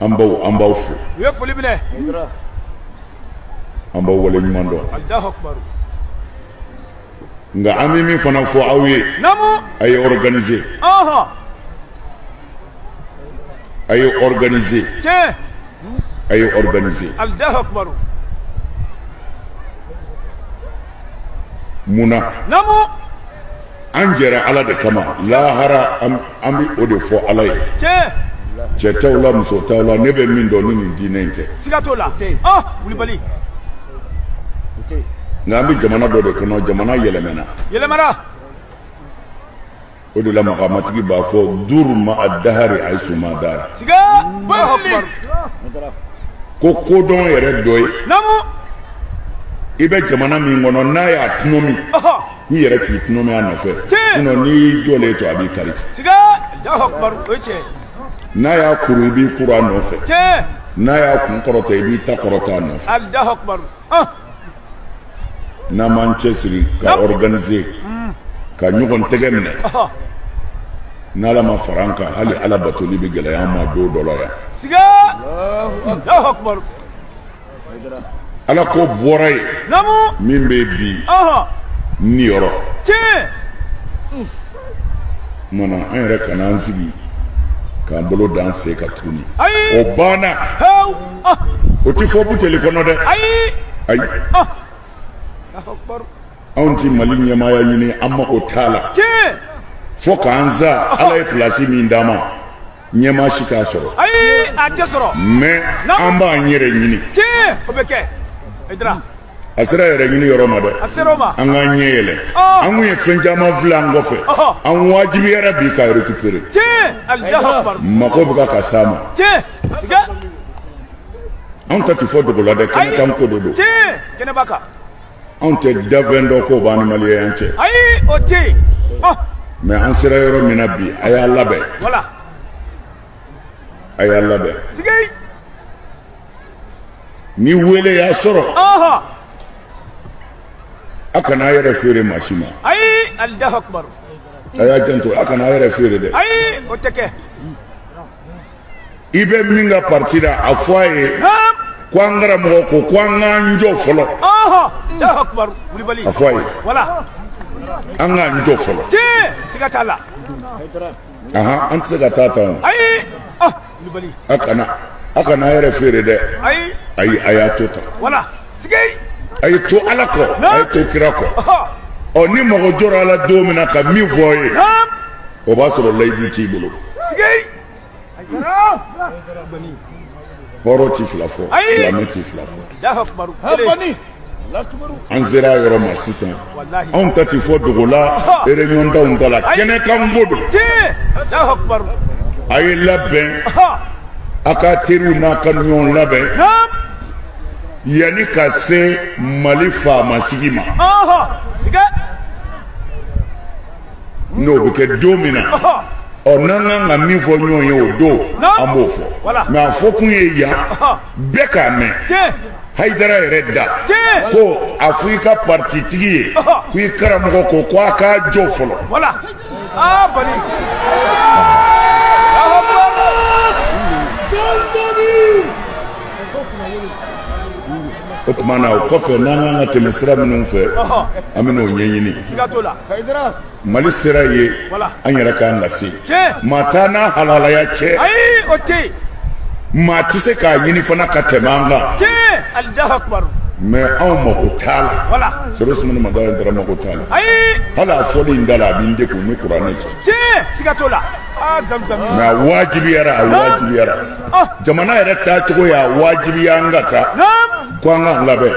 an baw an b'aw fo aw ye foli minɛ an b'aw wale ɲuman dɔn nka an bɛ min fana fɔ aw ye a ye organiser a ye organiser a ye organiser mun na an jɛra ala de kama lahara an bɛ o de fɔ ala ye cɛ t'aw la muso t'aw la ne bɛ min dɔn ni nin diinɛ in tɛ siga t'o la ah, wulibali nka an bɛ jamana dɔ de kɔnɔ jamana yɛlɛmana yɛlɛmana o de la makamatigi b'a fɔ duru ma a dahari hayisuma dara ko kodɔn yɛrɛ dɔ ye i bɛ jamana min kɔnɔ n'a y'a tunomi k'i yɛrɛ k'i tunomi a nɔfɛ sinɔ n'i y'i jɔlen to a b'i kari n'a y'a kuru i b'i kuru a nɔfɛ n'a y'a kun kɔrɔta i b'i ta kɔrɔta a nɔfɛ n'an m'an cɛsiri ka organiser ka ɲɔgɔn tɛgɛ minɛ n'ala ma fara an kan hali ala batoli bɛ gɛlɛya an ma don dɔ la yan ala ko bɔra ye min bɛ bi ni yɔrɔ kumana an yɛrɛ kana an sigi k'an bolo d'an sen kan tuguni o banna o tɛ fɔ buteli kɔnɔ dɛ ayi ayi anw ti mali ɲɛmaaya ɲini an mago t'a la fo k'an sa ala ye pilasi min d'an ma ɲɛmaa si t'a sɔrɔ ayi a tɛ sɔrɔ mɛ an b'an yɛrɛ ɲini o bɛ kɛ a sera yɛrɛ ɲini yɔrɔ ma dɛ an k'an ɲɛ yɛlɛ oh. an kun ye fɛn caman fili an kɔfɛ oh. an wajibiyara bi ka récupérer mako bɛ ka ka s'a ma anw ta ti fɔ dogo la dɛ kɛnɛ kan ko de don anw tɛna fɛn dogo b'an ni maliyɛn cɛ oh. mɛ an sera yɔrɔ min na bi a y'a labɛn a y'a labɛn ni wele y'a sɔrɔ a kana a yɛrɛ feere maa si ma a y'a janto a kana a yɛrɛ feere dɛ i bɛ min ka parti la a fɔ a ye ko an karamɔgɔ ko ko an k'an jɔ fɔlɔ a fɔ a ye an k'an jɔ fɔlɔ an tɛ se ka taa tan o. a kana a kana a yɛrɛ feere dɛ ayi a y'a to tan a ye to ala kɔ a ye to kira kɔ ɔ ni mago jɔra a la don min na ka min fɔ aw ye o b'a sɔrɔ layidu t'i bolo hɔrɔn ti fila fɔ silamɛ ti fila fɔ an sera a yɔrɔ ma sisan anw ta ti fɔ dogo la ereyɔndaw ta la kɛnɛkan ko don a ye labɛn a ka teriw n'a ka ɲɔgɔn labɛn yanni ka se mali faamasigi ma n'o bɛ kɛ don min na ɔ n'an kan ka min fɔ ɲɔgɔn ye o don an b'o fɔ mɛ a fɔ kun ye yan bɛɛ k'a mɛn hayidara yɛrɛ da ko a fɔ i ka parititigi ye ko i karamɔgɔ ko ko a k'a jɔ fɔlɔ o tuma na o kɔfɛ n'an kan ka tɛmɛ sira minnu fɛ an bɛn'o ɲɛɲini mali sera ye an yɛrɛ k'an lase maa t'an n'a halalaya cɛ maa tɛ se k'a ɲini fana ka tɛmɛ an kan mɛ anw mako t'a la sɛbɛ sumuni ma dala dara mako t'a la hali a fɔli n da la a bɛ n degun ni kuranɛ cɛ mɛ a wajibiyara a wajibiyara jamana yɛrɛ taacogo y'a wajibiya an kan sa ko an k'an labɛn